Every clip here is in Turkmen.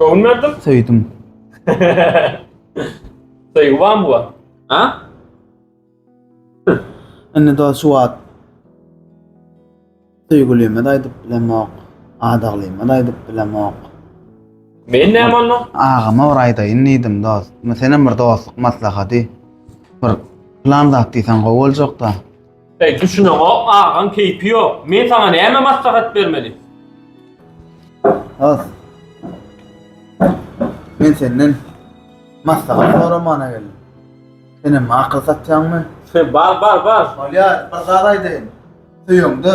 Göwün berdim. Söýdüm. Söýgi barmy bu? Ha? Indi da şu wagt söýgülime de aýdyp bilemok, adaglyma da aýdyp bilemok. Men näme onda? Agama bir aýdaýyn diýdim dost. Sen hem bir dostluk maslahaty. Bir plan zat diýseň gowy boljak da. Eý düşüneňok agaň keýpi ýok. Men saňa näme maslahat bermeli. Has. Men senden maslahat soramana geldim. Senem makyl satýaňmy? Bar bar bar. Bolýar, bir zat aýdaýyn. Söýeňde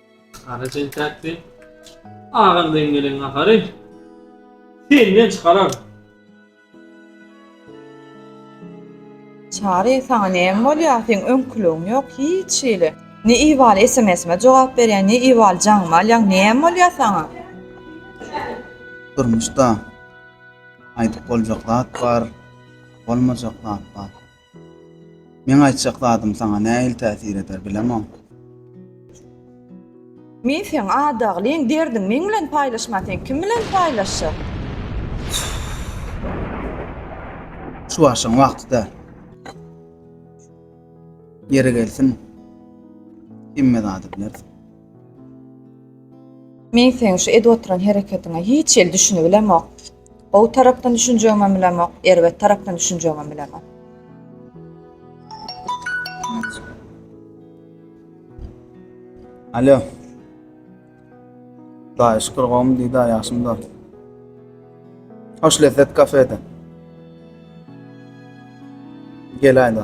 Ara çentäkdi. Agam deň gelen gahary. Senden çykarar. Çary, sana näme bolýar? Seň öňküligiň ýok hiç hili. Ne ibaly SMS-me jogap berýän, ne ibaly jaňyma alýaň. Näme bolýar sana? Durmuşda aýdyp boljak zat bar, bolmajak zat bar. Meň aýtjak zadym saňa nähili täsir eder, bilemok. Men seň adaglyň, derdiň meň bilen paýlaşman sen kim bilen paýlaşjak? Şu barşyň wagty däl. Ýeri gelsin, hemme zady bilersiň. Men seň şu edip oturan hereketiňe hiç hili düşünibilemok. Gowy tarapdan düşünjegimem bilemok, erbet tarapdan düşünjegimem bilemok. Alo. Daýy şükür gowmy diýdi ýaşymda. Hoş lezzet kafede. Gel aýda.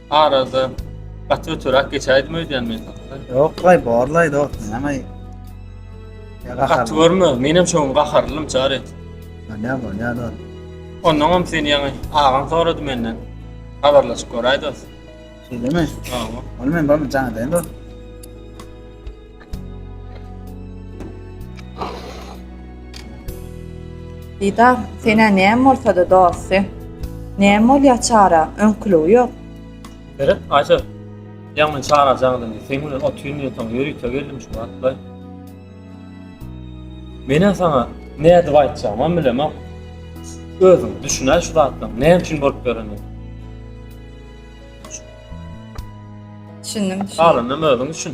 Arada gaty ötüräk geçäýdim öýdýän men. Ýok, laý bor laý dost, näme? Gaty görme, men hem şoň gaharlym çar et. Näme bor, näme dost? Ondan hem seni ýaňy agaň sorady menden. Habarlaşyp göräý dost. Şeýlemi? Hawa. Ol men bolmajaň edeýin dost. Didar, senä näme bolsa-da dosty? Näme bolýar Çara, öňküligi ýok. Meret, Aýşe, ýaňy Çara jaň indi, seň bilen otyryn diýensoň ýörite geldim şu wagtlaý. Men-ä saňa nädip aýtjagymam bilemok. Özüň düşün-ä şu zatlaryň näme üçin bolup ýörendigini. Düşündim, düşündim. Galanynam özüň düşün.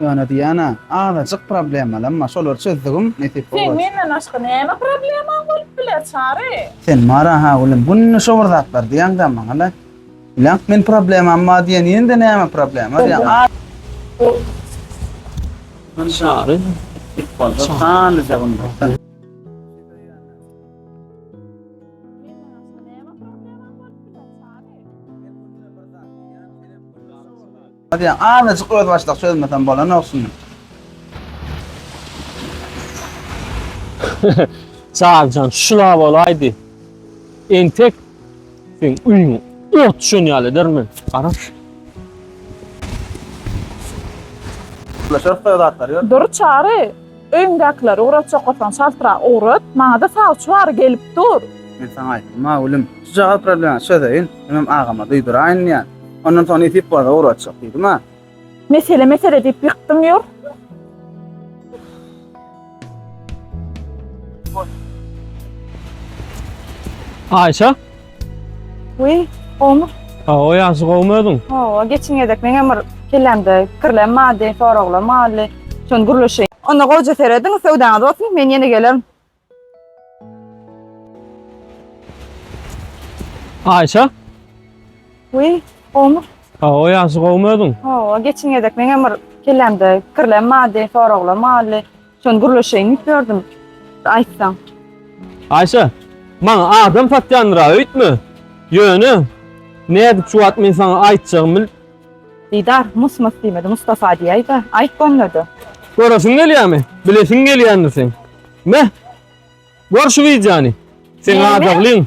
Ýöne Diana, azajyk problemalarym bar, şolary çözdigim, nesip bolgaç. Seň menden başga näme problemaň bolup biler, Çary? Sen bar-a, ha, gülüm, günde şo bir zatlar diýeň-dä maňa-la. Bilaň, men problemam bar diýeninde näme problema diýeň. Çary, it bolsa sanlyja gümrükden. Hadiýaň azajyk özbaşdak çözmesem bolanok şuny. Çaryjan şula bolaýdy. Entek sen öýüň ot düşen ýaly edermen. Gara. Şöhle zatlar ýör. Dur çary. Öýüňdäkileri ugrat çokasaň çaltrak ugrat, maňada sawçy bary gelip dur. Men saňa aýtdym-a Gülüm, şujagaz problema çözeýin, hemem agama duýduraýyn diýen. Ondan soň nesip bolsa ugratjak diýdim-a. Mesele mesele diýip ýykdyň ýur. Aýşe! Uý, gowmy? Hawa, ýagşy, gowmy özüň? Hawa, geçiň gezek meňem bir kellämde pikirlerim bardy, soraglarym bardy. Şony gürleşeýin. Onda gowja serediň, söwdaňyz bolsun, men ýene gelerin. Aýşa? Uý, gowmy? Hawa, ýagşy, gowmy özüň? Hawa, geçiň gezek meňem bir kellämde pikirlerim bardy, soraglarym bardy. Şony gürleşeýin diýip ýördüm. Aýtsaň. Aýşe, maňa adam satýandyr-a, öýtme. Ýöne, nädip şu wagt men saňa aýtjagymy bilip. Didar, mys-mys diýmedi, Mustafa diýäý-de, aýt bolmady. Göresiň gelýärmi? Bilesiň gelýändir seň. Meh, gör şu wideony. Seň adaglyň.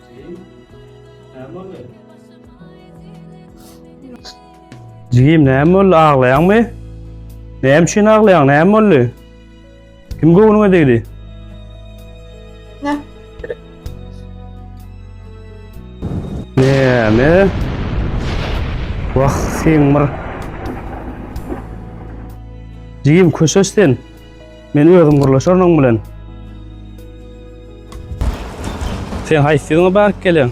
Jigim näme boldy aglaýaňmy? Näme üçin aglaýaň? Näme boldy? Kim göwnüňe degdi? Ne? Näme? Wah, sen bir. Jigim köşeşsin. Men özüm gurlaşaryn oň bilen. Sen haýsy ýylyňa baryp geleň?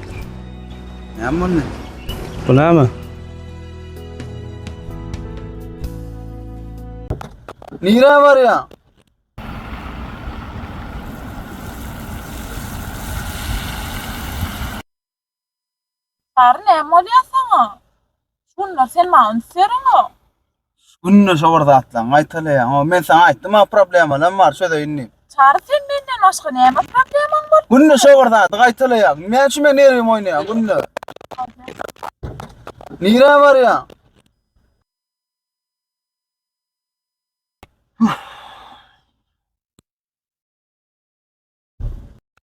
Näme boldy? Bu näme? Nira var ya. Çary näme bolýar saňa? Şu günler sen maňa üns bereňok. Şu günler şo bir zatlaryňy gaýtalaýaňok. Men saňa aýtdym-a problemalarym bar çözeýin diýip. Çary sen menden başga näme problemaň bar? Günde şo bir zady gaýtalaýaň. Näme üçin meniň nerwimi oýnaýaň günde? Nirä barýaň?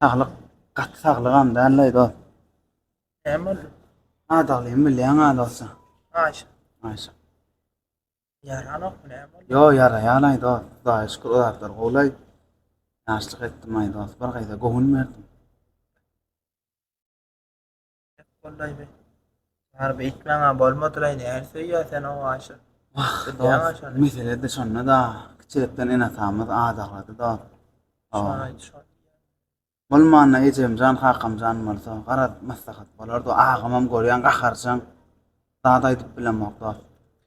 Saglyk gaty saglygam däl-leý dost. Näme boldy? Adaglymy bilýäň-ä dost. Aýşa. Aýşa. Ýaranokmy näme boldy? Ýo, ýaraýan-aý dost. Hudaýa şükür o zatlar gowy-laý. Ýaşlyk etdim-aý dost. Bir gyza göwün berdim. Gollaýmy? Harby etmäňä bolmadylaýyn, är söýýä sen o aşa. Wah, Bilýäň dost, şony. meselede şonda-da, kiçilikden ene-atamyz adaglady, dost. O, Şony aýt, şony. bolmanda ejemjan, kakamjan bolsa, garaz, maslahat bolardy, agamam görýäň gaharjaň, zat aýdyp bilemok, dost.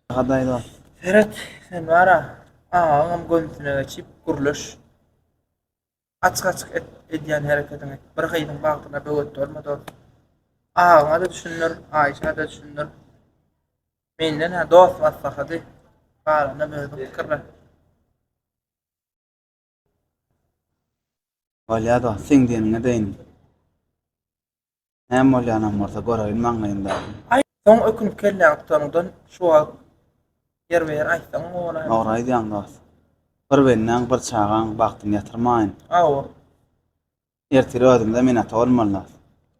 Agaday, dost. Seret, sen bara, agaňam gömsüne geçip, gürleş. Açyk-açyk et, edýän herekediňi bir gyzyň bagtyna böwet bolma dost. Agaňa-da düşündir, Aýşä-de düşündir. Menden-ä dost maslahaty, galanam özüň pikirlen. Bolýa dost, seň diýeniňe deýin. Näme bolýanam bolsa, göreýin maňlaýyndaky. Aý, soň ökünip kelläňi tutanyňdan şu wagt ýerbe-ýer aýtsaň bolaýmyka? Dogry aýdýaň, dost. Bir bendäň, bir çagaň bagtyny ýatyrmaýyn. Hawa. Ertir özümize minata bolmalydas.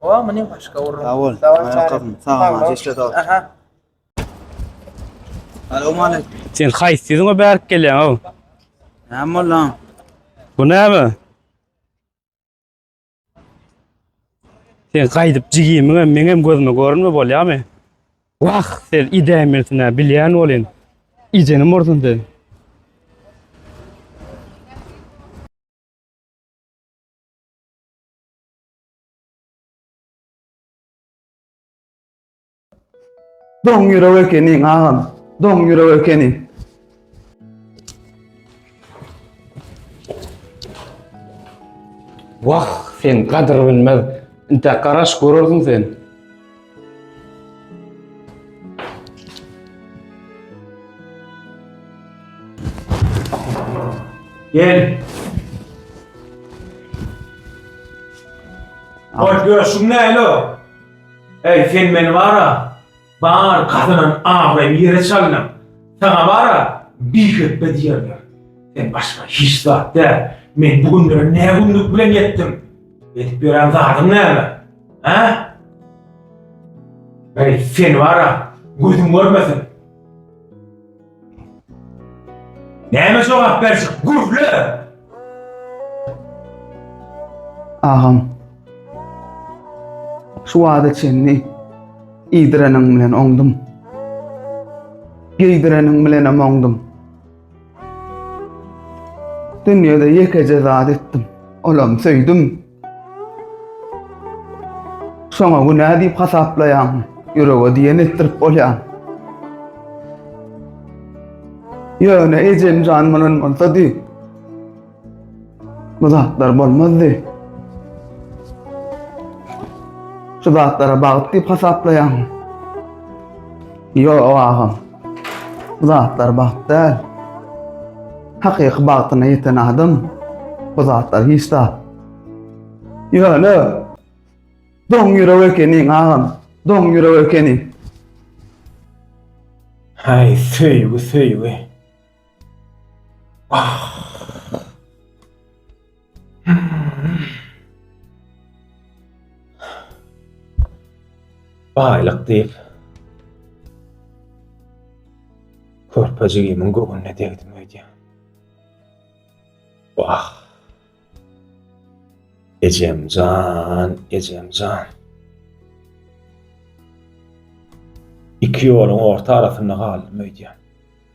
Hawa, muny başga urun. Sag bol. Sag bol, çagam. Sag bol, maňa işle, dost. Aha. Salowmaleýkim. Sen haýsy ýüzüňe bärik gelýäň-ow? Näme boldy, aň? Bu näme? Sen gaýdyp jigimiň hem meň hem gözüme görünme bolýamy? Wah, sen idämilsinä bilýän bolyn. Ijenim ursun sen. Doň ýürek ekeniň agam. Doň ýürek ekeniň. Wah, sen gadyr bilmez. Inte garaş görersiň sen. Gel. Hoş görüşün näle? Äý, sen meni bar-a, bar gazanan abraýymy ýere çaldyň. Saňa bar-a, bihepbe diýerler. Sen başga hiç zat däl. Men bu günlere nä günlük bilen ýetdim? Edip ýören zadyň näme? Hä? Äý, seni bar-a, gözüm görmesin. Näme jogap berjek? Gürle! Agam. Şu wada çenli iýdireniň bilen oňdum. Geýdireniň bilen hem oňdum. Dünýäde ýekeje zat etdim. Olam söýdüm. Şoňa günä diýip hasaplaýaň. Ýürege diýen etdirip bolýar. Ýöne ejemjan munan bolsa diý. Bu zatlar bolmazdy. Şu zatlara bagt diýip hasaplaýaň. Ýok agam. Bu zatlar bagt däl. Hakyky bagtyna ýeten adam bu zatlar hiç zat. Ýöne doň ýürek ekeniň agam, doň ýürek ekeniň. Haý söýgi söýgi. Baýlyk diýip, körpejigimiň göwnüne degdim öýdýän. Wah! Ejemjan, ejemjan. Iki ýoluň orta arasynda galdym öýdýän.